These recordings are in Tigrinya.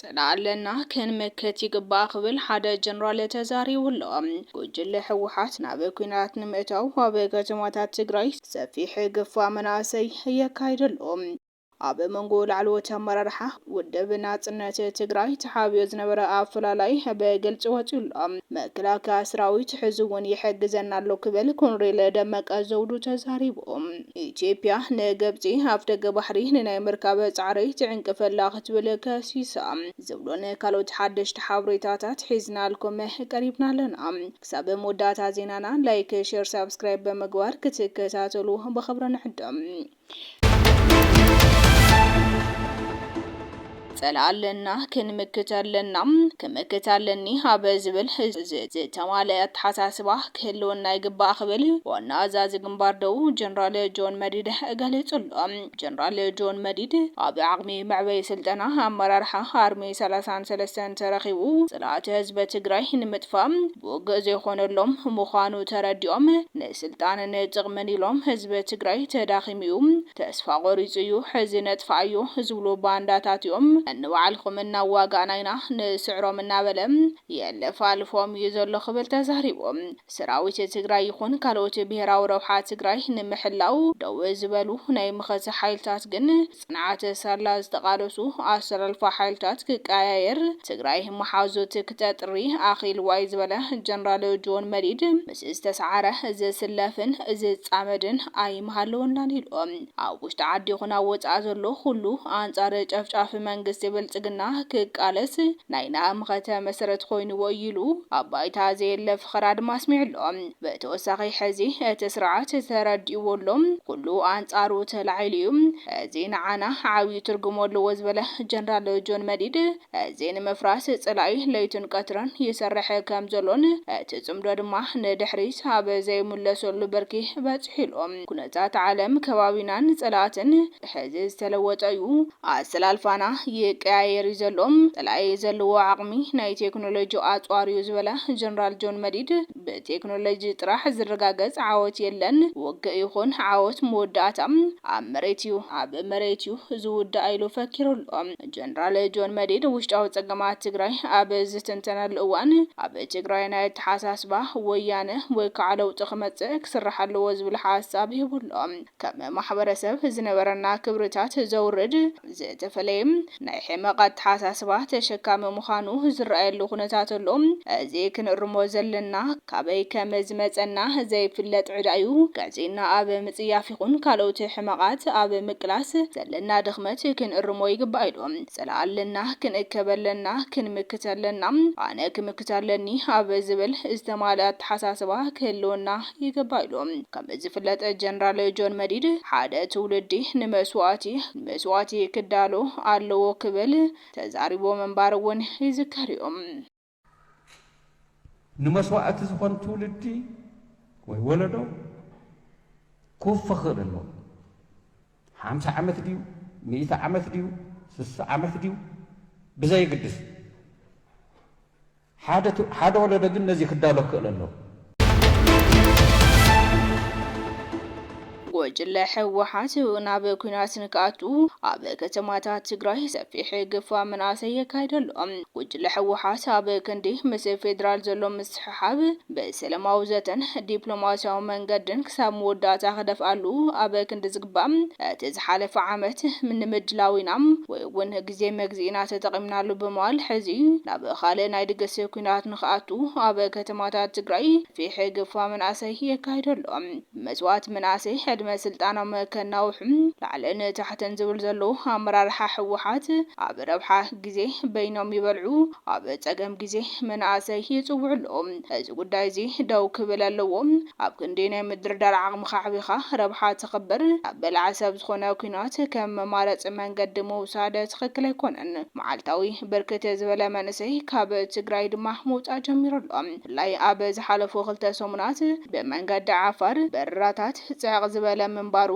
ፅላእ ኣለና ክንምክት ይግባእ ክብል ሓደ ጀነራል ተዛሪቡ ኣሎ። ጉጅለ ህወሓት ናብ ኲናት ንምእታው ኣብ ከተማታት ትግራይ ሰፊሕ ግፋ መናእሰይ የካይድ ኣሎ። ኣብ መንጎ ላዕለዎት ኣመራርሓ ውድብ ናፅነት ትግራይ ተሓቢኦ ዝነበረ ኣፈላላይ ብግልፂ ወፂኡ ኣሎ። መከላከያ ሰራዊት ሕዚ እውን ይሕግዘና ኣሎ ክብል ኮሎኔል ደመቀ ዘውዱ ተዛሪቡ። ኢትዮጵያ ንግብፂ ኣፍደገ ባሕሪ ንናይ ምርካብ ፃዕሪ ትዕንቅፍ ኣላ ክትብል ከሲሳ። ዝብሉን ካልኦት ሓደሽቲ ሓበሬታታት ሒዝናልኩም ቀሪብና ኣለና። ክሳብ መወዳእታ ዜናና ላይክ፣ ሼር፣ ሳብስክራይብ ብምግባር ክትከታተሉ ብኽብሪ ንዕድም። ጸላኢ ኣለና ክንምክት ኣለና ክምክት ኣለኒ ኣብ ዝብል ዝተማለኣ ኣተሓሳስባ ክህልወና ይግባእ ክብል ዋና ኣዛዚ ግንባር ደቡብ ጀነራል ጆን መዲድ ገሊጹ ኣሎ። ጀነራል ጆን መዲድ ኣብ ዓቕሚ መዕበዪ ስልጠና ኣመራርሓ ኣርሚ ሰላሳን ሰለስተን ተረኺቡ ጸላእቲ ህዝቢ ትግራይ ንምጥፋእ ብውግእ ዘይኾነሎም ምዃኑ ተረዲኦም ስልጣንን ጥቕምን ኢሎም ህዝቢ ትግራይ ተዳኺሙ እዩ ተስፋ ቆሪፁ እዩ ሕዚ ነጥፍኣዮ ዝብሉ ባንዳታት እዮም ንባዕልኹም እናዋጋእና ኢና ንስዕሮም እናበለ የለፋልፎም እዩ ዘሎ ክብል ተዛሪቡ። ሰራዊት ትግራይ ይኹን ካልኦት ብሄራዊ ረብሓ ትግራይ ንምሕላው ደው ዝበሉ ናይ መኸተ ሓይልታት ግን ፅንዓት ሳላ ዝተቃለሱ ኣሰላልፋ ሓይልታት ክቀያየር ትግራይ መሓዙት ክተጥሪ ኣኺል ዋይ ዝበለ ጀነራል ጆን መዲድ ምስ ዝተሰዓረ ዝስለፍን ዝፃመድን ኣይምሃለወናን ኢሉ ኣብ ውሽጢ ዓዲ ይኹን ኣብ ወፃኢ ዘሎ ኹሉ ኣንፃር ጨፍጫፊ መንግስቲ ብልፅግና ክቃለስ ናይ ናህምኸተ መሰረት ኾይንዎ እዩ ኢሉ ኣብ ባይታ ዘየለ ፍኸራ ድማ ኣስሚዑ ኣሎ። ብተወሳኺ ሕዚ እቲ ስርዓት ተረዲእዎ ኣሎ፣ ኩሉ ኣንጻሩ ተላዒሉ እዩ፣ እዚ ንዓና ዓብዩ ትርጉም ኣለዎ ዝበለ ጀነራል ጆን መዲድ፣ እዚ ንምፍራስ ጸላኢ ለይትን ቀትርን ይሰርሕ ከምዘሎን እቲ ጽምዶ ድማ ንድሕሪት ኣብ ዘይምለሰሉ ብርኪ በጺሑ ኢሉ። ኩነታት ዓለም፣ ከባቢናን ጸላእትን ሕዚ ዝተለወጠ እዩ፣ ኣሰላልፋና ይቀያየር እዩ ዘሎ፣ ጸላኢ ዘለዎ ዓቕሚ ናይ ቴክኖሎጂ ኣጽዋር እዩ ዝበለ ጀነራል ጆን መዲድ፣ ብቴክኖሎጂ ጥራሕ ዝረጋገፅ ዓወት የለን። ውግእ ይኹን ዓወት መወዳእታ ኣብ መሬት ዩ። ኣብ መሬት ዩ ዝውዳእ ኢሉ ፈኪሩ ኣሎ። ጀነራል ጆን መዲድ ውሽጣዊ ፀገማት ትግራይ ኣብ ዝትንተነሉ እዋን ኣብ ትግራይ ናይ ኣተሓሳስባ ወያነ ወይ ከዓ ለውጢ ክመፅእ ክስራሕ ኣለዎ ዝብል ሓሳብ ሂቡ ኣሎ። ከም ማሕበረሰብ ዝነበረና ክብርታት ዘውርድ፣ ዝተፈለየ ናይ ሕመቕ ኣተሓሳስባ ተሸካሚ ምዃኑ ዝረኣየሉ ኩነታት ኣሎ። እዚ ክንእርሞ ዘለና፣ ካበይ ከም ዝመጸና ዘይፍለጥ ዕዳ'ዩ። ቀጺልና ኣብ ምጽያፍ ይኹን ካልኦት ሕመቓት ኣብ ምቅላስ ዘለና ድኽመት ክንእርሞ ይግባእ ኢሉ። ጽላእ ኣለና፣ ክንእከብ ኣለና፣ ክንምክት ኣለና፣ ኣነ ክምክት ኣለኒ ኣብ ዝብል ዝተማልኣ ኣተሓሳስባ ክህልወና ይግባእ ኢሉ። ከም ዝፍለጥ ጀነራል ጆን መዲድ ሓደ ትውልዲ ንመስዋእቲ ንመስዋእቲ ክዳሎ ኣለዎ ክብል ተዛሪቡ ምንባሩ እውን ይዝከር እዩ። ንመስዋእቲ ዝኾን ትውልዲ ወይ ወለዶ ክውፈ ክኽእል ኣለዎ። ሓምሳ ዓመት ድዩ ሚእቲ ዓመት ድዩ ስሳ ዓመት ድዩ ብዘየግድስ። ሓደ ወለዶ ግን ነዚ ክዳሎ ክክእል ኣለዎ። ጉጅለ ህወሓት ናብ ኲናት ንክኣቱ ኣብ ከተማታት ትግራይ ሰፊሕ ግፋ መናእሰይ የካይድ ኣሎ። ጉጅለ ህወሓት ኣብ ክንዲ ምስ ፌዴራል ዘሎ ምስሕሓብ ብሰለማዊ ዘተን ዲፕሎማሲያዊ መንገድን ክሳብ መወዳእታ ክደፍኣሉ ኣብ ክንዲ ዝግባእ እቲ ዝሓለፈ ዓመት ንምድላው ኢና ወይ እውን ግዜ መግዝኢና ተጠቒምናሉ ብምባል ሕዚ ናብ ኻልእ ናይ ድግስ ኲናት ንኽኣቱ ኣብ ከተማታት ትግራይ ፊሒ ግፋ መናእሰይ የካይዶ ኣሎ። መስዋእቲ መናእሰይ ዕድመ ስልጣኖም ከናውሑ ላዕልን ታሕትን ዝብል ዘሎ ኣመራርሓ ህወሓት ኣብ ረብሓ ግዜ በይኖም ይበልዑ፣ ኣብ ጸገም ግዜ መናእሰይ ይጽውዑ ኣለዉ። እዚ ጉዳይ እዚ ደው ክብል ኣለዎ። ኣብ ክንዲ ናይ ምድርዳር ዓቕምኻ ኣዕቢኻ ረብሓ ተኽብር ናብ በላዒ ሰብ ዝኾነ ኩናት ከም መማረጺ መንገዲ ምውሳድ ትኽክል ኣይኮነን። መዓልታዊ ብርክት ዝበለ መንእሰይ ካብ ትግራይ ድማ ምውጻእ ጀሚሩ ኣሎ። ብፍላይ ኣብ ዝሓለፉ ክልተ ሰሙናት ብመንገዲ ዓፋር በረራታት ጽዕቕ ዝበለ ምንባሩ፣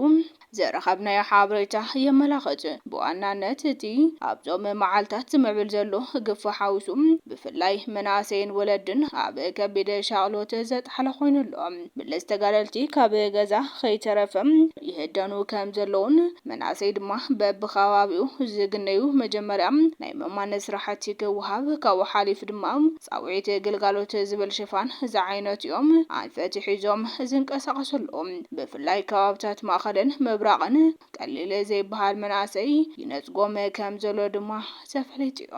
ዝረኸብናዮ ሓበሬታ የመላኽት። ብዋናነት እቲ ኣብዞም መዓልታት ዝምዕብል ዘሎ ግፋ ሓዊሱ ብፍላይ መናእሰይን ወለድን ኣብ ከቢድ ሻቕሎት ዘጥሓለ ኮይኑ ኣሎ። ብለስ ተጋደልቲ ካብ ገዛ ከይተረፈም ይህደኑ ከም ዘለዉን መናእሰይ ድማ በብኸባቢኡ ዝግነዩ መጀመርያ ናይ ምእማን ስራሕቲ ክወሃብ ካብኡ ሓሊፉ ድማ ፃውዒት ግልጋሎት ዝብል ሽፋን ዝዓይነቱ'ዮም ኣንፈት ሒዞም ዝንቀሳቐሱ ዘለዉ። ብፍላይ ከባብታት ማእኸልን ምብራቕን ቀሊል ዘይበሃል መናእሰይ ይነፅጎም ከም ዘሎ ድማ ተፈሊጡ ዩ።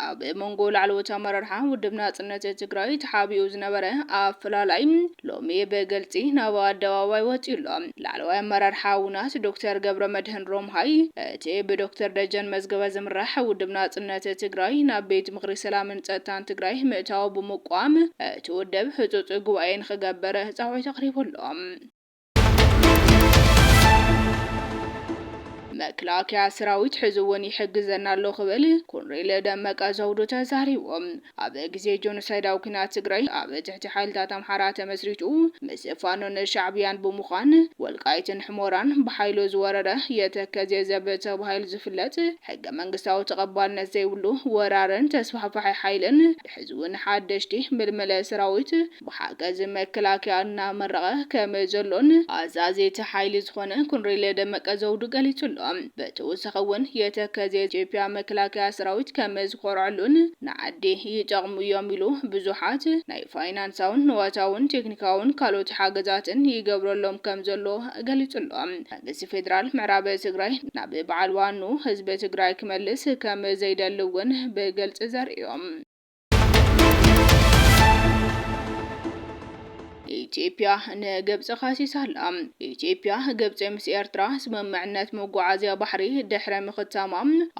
ኣብ መንጎ ላዕለዎት ኣመራርሓ ውድብ ናፅነት ትግራይ ተሓቢኡ ዝነበረ ኣፈላላይ ሎሚ ብግልፂ ናብ ኣደባባይ ወፂኡ ኣሎ። ላዕለዋይ ኣመራርሓ ውናት ዶክተር ገብረመድህን ሮምሃይ፣ እቲ ብዶክተር ደጀን መዝገበ ዝምራሕ ውድብ ናጽነት ትግራይ ናብ ቤት ምኽሪ ሰላምን ጸጥታን ትግራይ ምእታዉ ብምቋም እቲ ውድብ ህጹጽ ጉባኤ ንኽገብር ጻውዒት ኣቕሪቡ ኣሎ። መክላከያ ስራዊት ሕዚ እውን ይሕግዘና ኣሎ ክብል ኮንሬል ደመቀ ዘውዱ ተዛሪቡ። ኣብ ግዜ ጆኖሳይዳዊ ኩናት ትግራይ ኣብ ትሕቲ ሓይልታት ኣምሓራ ተመስሪቱ ምስ ፋኖን ሻዕብያን ብምዃን ወልቃይትን ሕሞራን ብሓይሉ ዝወረረ የተከዜ ዘብ ተባሂሉ ዝፍለጥ ሕገ መንግስታዊ ተቐባልነት ዘይብሉ ወራርን ተስፋሕፋሒ ሓይልን ሕዚ ውን ሓደሽቲ ምልምለ ሰራዊት ብሓገዝ መከላከያ እናመረቐ ከም ዘሎን ኣዛዚ እቲ ሓይሊ ዝኾነ ኮንሬል ደመቀ ዘውዱ ገሊጹ ኣሎ። ብተወሳኺ እውን የተከዜ ኢትዮጵያ መከላከያ ሰራዊት ከም ዝኾርዐሉን ንዓዲ ይጠቕሙ እዮም ኢሉ። ብዙሓት ናይ ፋይናንሳውን ንዋታውን ቴክኒካውን ካልኦት ሓገዛትን ይገብረሎም ከም ዘሎ ገሊጹ ኣሎ። መንግስቲ ፌደራል ምዕራብ ትግራይ ናብ በዓል ዋንኡ ህዝቢ ትግራይ ክመልስ ከም ዘይደሊ እውን ብግልፂ ዘርእዮም። ኢትዮጵያ ንግብጺ ከሲሳ ኣላ። ኢትዮጵያ፣ ግብጺ ምስ ኤርትራ ስምምዕነት መጓዓዝያ ባሕሪ ድሕሪ ምኽታማ፣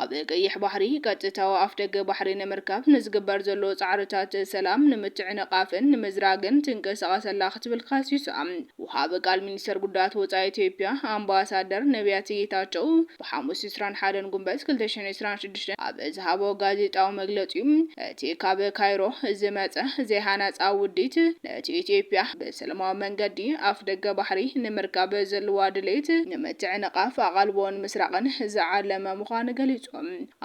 ኣብ ቀይሕ ባሕሪ ቀጥታዊ ኣፍደገ ባሕሪ ንምርካብ ንዝግበር ዘሎ ጻዕርታት ሰላም ንምትዕንቓፍን ንምዝራግን ትንቀሳቐስ ኣላ ክትብል ከሲሳ። ወሃቢ ቃል ሚኒስተር ጉዳያት ወጻኢ ኢትዮጵያ ኣምባሳደር ነብያት ጌታቸው፣ ብሓሙስ ዕስራን ሓደን ጉንበት ክልተ ሽሕን ዕስራን ሽዱሽተን ኣብ ዝሃቦ ጋዜጣዊ መግለጺኡ፣ እቲ ካብ ካይሮ ዝመጸ ዘይሃናጻ ውዲት፣ ነቲ ኢትዮጵያ ብሰለማዊ መንገዲ ኣፍደገ ባሕሪ ንምርካብ ዘለዋ ድሌት ንምትዕንቓፍ ኣቓልቦን ምስራቕን ዝዓለመ ምዃኑ ገሊጹ።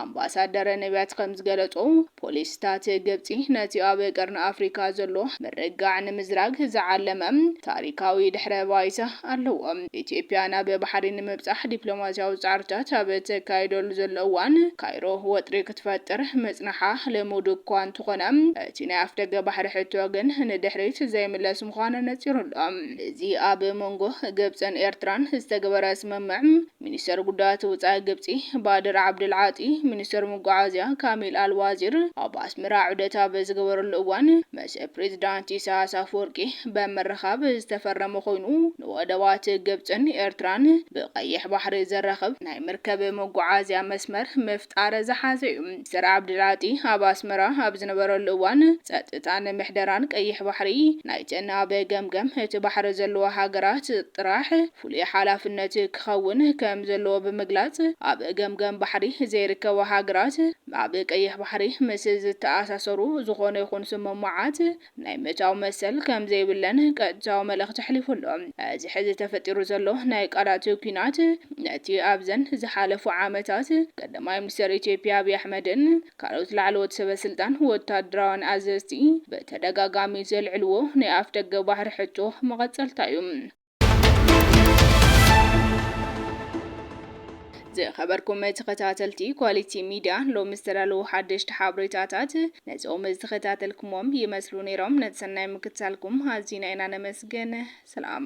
ኣምባሳደር ነብያት ከም ዝገለጾ፣ ፖሊሲታት ግብጺ ነቲ ኣብ ቀርኒ ኣፍሪቃ ዘሎ ምርግጋዕ ንምዝራግ ዝዓለመ ታሪካዊ ድሕረ ባይታ፣ ኣለዎ። ኢትዮጵያ ናብ ባሕሪ ንምብጻሕ ዲፕሎማስያዊ ጻዕርታት ኣብ እተካይደሉ ዘሎ እዋን፣ ካይሮ ወጥሪ ክትፈጥር ምጽናሓ ልሙድ እኳ እንተኾነ፣ እቲ ናይ ኣፍደገ ባሕሪ ሕቶ ግን ንድሕሪት ዘይምለስ ምዃኑ ኣነጺሩ ኣሎ። እዚ ኣብ መንጎ ግብጽን ኤርትራን ዝተገበረ ስምምዕ፣ ሚኒስተር ጉዳያት ውጻኢ ግብጺ ባድር ዓብደል ዓጢ፣ ሚኒስተር መጓዓዝያ ካሚል ኣል ዋዚር ኣብ ኣስመራ ዑደት ኣብ ዝገበረሉ እዋን ምስ ፕሬዚዳንት ኢሳያስ ኣፍወርቂ በምርኻብ ዝተፈረመ ኮይኑ፣ ንወደባት ግብጽን ኤርትራን ብቀይሕ ባሕሪ ዘራኽብ ናይ መርከብ መጓዓዝያ መስመር ምፍጣር ዝሓዘ እዩ። ሚስተር ዓብዲልዓጢ ኣብ ኣስመራ ኣብ ዝነበረሉ እዋን፣ ጸጥታን ምሕደራን ቀይሕ ባሕሪ ናይተን ኣብ ገምገም እቲ ባሕሪ ዘለዋ ሃገራት ጥራሕ ፍሉይ ሓላፍነት ክኸውን ከም ዘለዎ ብምግላጽ፣ ኣብ ገምገም ባሕሪ ዘይርከባ ሃገራት ኣብ ቀይሕ ባሕሪ ምስ ዝተኣሳሰሩ ዝኾነ ይኹን ስምምዓት ናይ ምእታው መሰል ከምዘይብለን ቀጥታዊ መልእኽቲ ኣሕሊፉ ኣሎ። እዚ ሕዚ ተፈጢሩ ዘሎ ናይ ቃላት ኲናት፣ ነቲ ኣብዘን ዝሓለፉ ዓመታት ቀዳማይ ሚኒስተር ኢትዮጵያ ኣብይ ኣሕመድን ካልኦት ላዕለዎት ሰበስልጣን ወታደራውያን ኣዘዝቲ ብተደጋጋሚ ዘልዕልዎ ናይ ኣፍደገ ባሕሪ ሕቶ መቐጸልታ'ዩ። ዝኸበርኩም ተኸታተልቲ ኳሊቲ ሚድያ ሎሚ ዝተዳለዉ ሓደሽቲ ሓበሬታታት ነዞም ዝተኸታተልኩሞም ይመስሉ ነይሮም። ነቲ ሰናይ ምክትታልኩም ኣዚና ኢና ነመስግን። ሰላም